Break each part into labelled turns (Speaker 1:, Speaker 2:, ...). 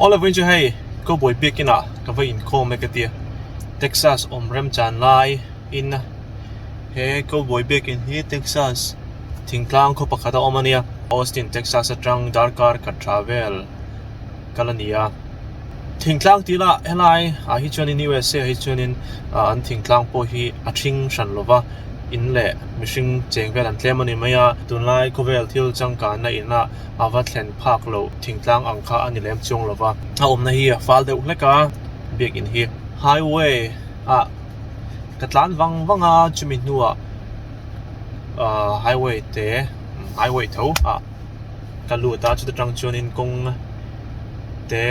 Speaker 1: Aw lovin chu hei Cowboy biakin ah ka va in khawm e ka tia Texas awm rem chan lai in a he Cowboy biakin hi Texas thingtlang khaw pakhat a awm a nia Austin Texas atang darkar khat tha vel ka la ni a thingtlang tih lah helai ah hi chuan in usa ah hi chuan in ah an thingtlang pawh hi a thing hran lo va in leh mihring cheng vel an tlem a ni mai a tunlai khawvel thil changkanna in ah-- a va thlen phak loh thingtlang ang kha a ni lem chuang lo va, a awmna hi a fâl deuh hlek a, biakin hi highway ah ka tlân vang vang a, chumi hnuah aah highway te highway tho ah ka lût a, chut aṭang chuanin kawng te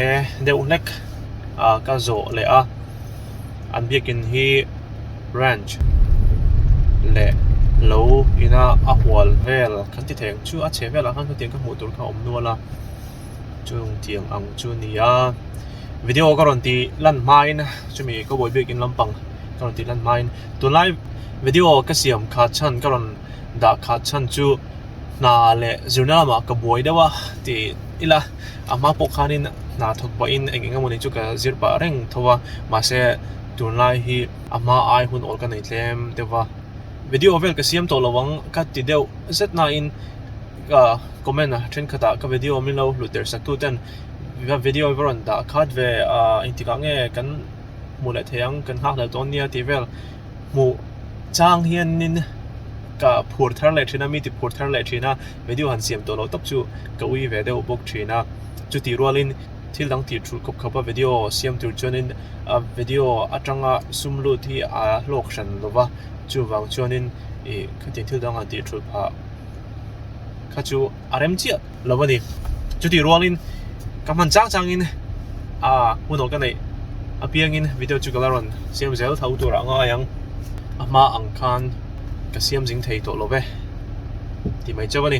Speaker 1: deuh hlek ka zawh leh a. an biakin hi ranch leh lo ina a hual vel kan ti thei ang chu a chheh velah khan hetiang ka hmuh tur kha a awm nual a chung tiang ang chu a ni a video ka rawn tih lan hmain chumi cowboy biakin lampang ka rawn tih lan hmain tunlai video ka siam kha chhan ka rawn dah kha chhan chu hna leh zirna lamah ka buai deuh a tih ila. amah pawh khanin hna thawk pah in eng eng emawni chu ka zir pah reng tho a mahse tun lai hi amah ai hun awl ka nei tlem deuh a video vel ka siam tawh lo ang ka ti deuh zet na in ah comment a thenkhat ah ka video min lo hlut der sak tu ten ka video i va rawn dah khat ve ah engtik ah nge kan hmuh leh thei ang kan nghak leh dawn nia tih vel. hmuh chang hian nin ka phur thar leh thin a mi ti phur thar leh thin a video han siam tawh loh tak chu ka ui ve deuh bawk thin a chutih rual in thil dang ti thu khawp khawp a video siam tur chuan in a video atanga sum lut hi a hlawk hran lo va chuvang chuan in ih khati thil dang han ti thu phah kha chu a rem chiah. lo a ni chuti rualin ka hman chang changin a hunaw ka neih apiangin video chu ka la rawn siam zel tho tur a ngai ang a hma ang khan ka siam zing thei tawh lo ve ti mai chauh a ni.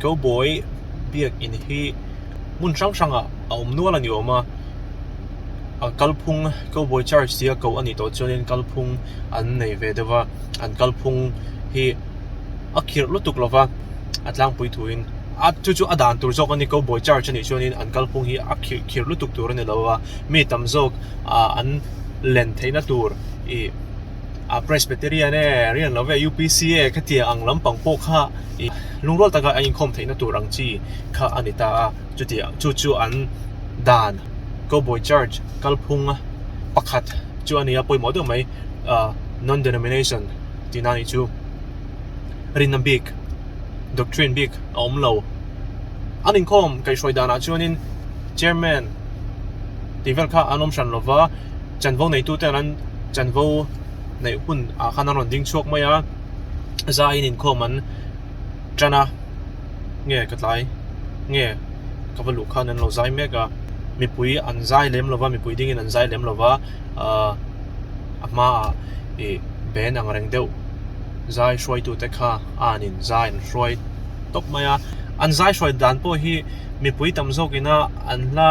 Speaker 1: Cowboy biak in hi hmun hrang hrang ah a awm nual a ni awm a a kalphung cowboy church zia koh a nih tawh chuan in kalphung an nei ve deuh a an kalphung hi a khirh lutuk lo va a tlangpui thu in a chu chu a dan tur zawk a ni cowboy church a nih chuan in an kalphung hi a khirh khirh lutuk tur a ni lo va mi tam zawk ah an len theih na tur ih-- a presbyterian e rian lo ve a upc e khatiang ang lampang pawh kha ih lungrual taka a inkhawm theihna tur ang chi kha a ni ta a chuti chu chu an dan cowboy church kalphung a pakhat chu a ni a pawimawh deuh mai ah non denomination tih na nih chu rinna bik doctrine bik a awm lo an inkhawm kaihhruai dan ah chuan in chairman tih vel kha an awm hran lo va. chanvo neitu ten an chanvo neih hun ah khan an rawn ding chhuak mai a zah in inkhawm an tan a nge ka tlai nge ka va luh khan an lo zai mek a mipui an zai lem lo va mipui ding in an zai lem lo va ah a hma ah ih ben ang reng deuh zai hruai tu te kha an in zai an hruai tawp mai a an zai hruai dan pawh hi mipui tam zawk in a an hla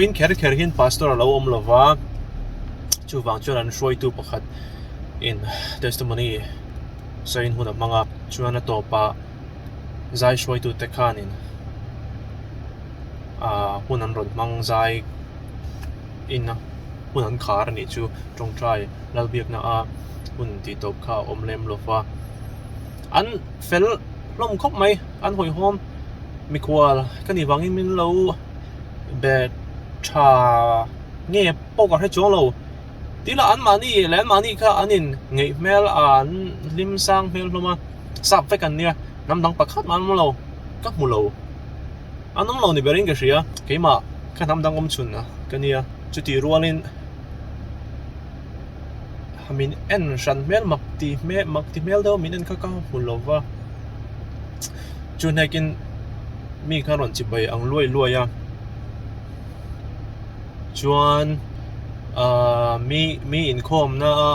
Speaker 1: vawiin kher kher hian pastor a lo awm lo va chuvang chuan an hruaitu pakhat in testimony sawiin hun a hmang a chuan a tawpah-- zai hruaitute khanin ah hun an rawn hmang zai in a hun an khar anih chu tawngtai lal biakna a hun tih tawp kha a awm lem lo va an fel hlawm khawp mai an hawihawm mikhual ka nih vangin min lo be tha nge pawh ka hre chuang lo tila anmahni leh anmahni kha an inngeih hmel a an hlim sang hmel hlawm a. sap vek an nia hnam dang pakhat an awm lo ka hmu lo an awm lo ni berin ka hria keimah ka hnam dang awm chhunah ka nia chuti rualin min en hran hmel mak ti hmel mak ti hmel deuh min en kha ka hmu lo va chu hnekin mi kha rawn chi bai ang luai luai a chuan ahh mi mi inkhawmna a.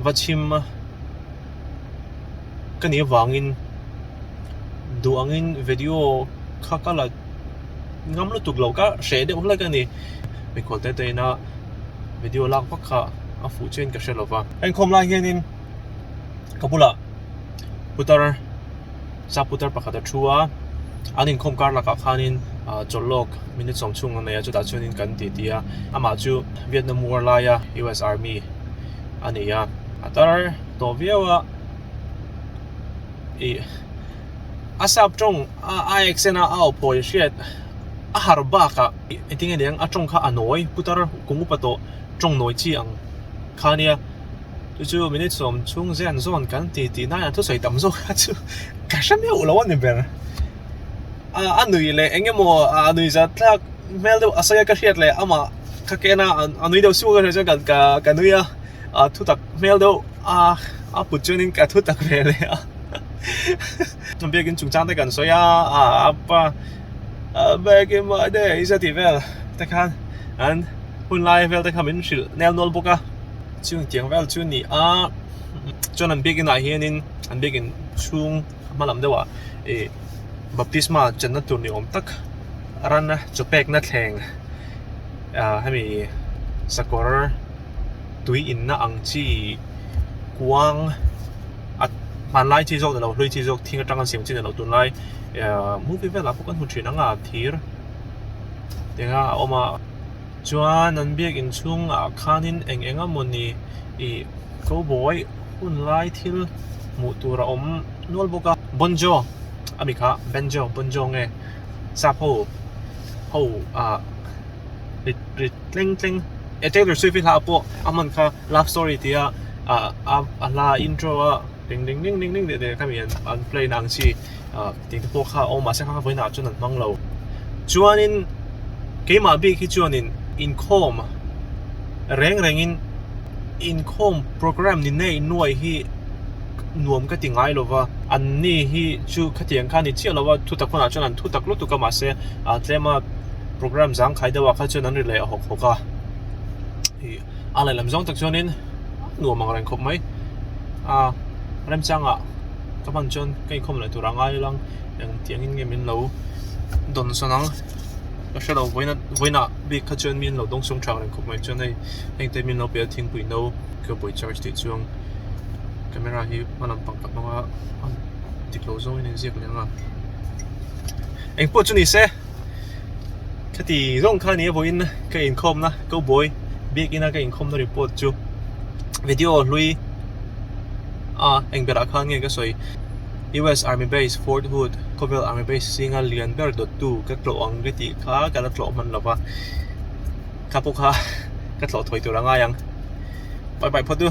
Speaker 1: va chhim a, ka nih avangin duh angin video kha ka la ngam lutuk lo, ka hreh deuh hlek a ni. Mikhawlta a tahin a video lak vak kha a fuh chiahin ka hre lo va. A inkhawm lai hianin ka bulah putar. Saputar pakhat a thu a, an inkhawm kar lakah khanin chawlhlawk min ni chawm chhung ang nei a, chutah chuanin kan titi a, amah chu Vietnam war laia US Army a ni a, a tar tawh viau a, ih a sap tawng a accent a a awphawi hriat, a har bakah ih eng tinge nia a tawng kha a nawi putar kung upa tawh tawng nawi chi ang kha nia. chu chu minute sawm chhung zian zawn kan ti tih nai an thusawi tam zawk a chu ka hre meuh lo a ni ber a a nui leh eng emaw a nui za thlak hmel deuh a sawi a ka hriat leh ama kha ken a a nui deuh suka ka hria chuan ka ka nui a a thu tak hmel deuh a a put chuan in ka thu tak ve leh a a biak in chungchang te kan sawi a a a pa a biak in mahni ei za tih vel te khan an hun lai vel te kha min hrilh nelnual bawk a chhung tiang vel chu ni a chuan an biak inah hian in an biak in chhung a hma lam deuh ah ih baptisma chan na tur ni awm tak a ran a chaw pek na thleng ah hemi sakawr tui in na ang chi kuang a hman lai chi zawk nilo hlui chi zawk thing atang an siam chi nilo tun lai ah movie vel ah pawh kan hmu thin ang a thir eng a a awm a Chuan an biakin chhungah khanin eng eng a mawni i Cowboy hun lai thil hmuh tur a awm nual bawk a. Bon Jo a mi kha Banjo, Bon Jo nge Sapho ho ah rit rit tleng tleng e Taylor Swift i hla pawh a hman kha Love Story tia a hla intro a ring ring ring ring ring tih te kha mian an play na ang chi. tih te pawh kha a awm mahse kha ka vawiinah ah chuan an hmang lo chuanin keimah bik hi chuanin inkhawm reng rengin inkhawm programme ni nei nuai hi nuam ka ti ngai lo va an ni hi chu khatiang kha ni chiah lo va thutak hunah chuan an thutak lutuk a mahse a tlema programme zangkhai deuhah kha chuan an rilei a hawk hawk a. a laih lam zawng tak chuanin nuam ang reng khawp mai a remchanga ka hman chuan ka inkhawm leh tura ngai alang engtiangin nge min lo dawn sawn ang ka hrelo vawiin vawiina bik kha chuan min lo dawng sung tha reng khawp mai chuan hei hengte min lo pel thingpui no ka buai charge tih chuang camera hi hma lam pang tak hmanga dik lo zawngin a inziak leh ang a engpawh chu nise. khati zong kha ni vawiin ka inkhawm na ko bawi bik ina ka inkhawm na report chu video hlui a eng berah khan nge ka sawi US army base Fort Hood Covell army base singa lian ber dawt tu ka tlawh ang ka tih kha ka la tlawh hman lova ka pawkha ka tlawh thawi tur angai ang pai pai phawt u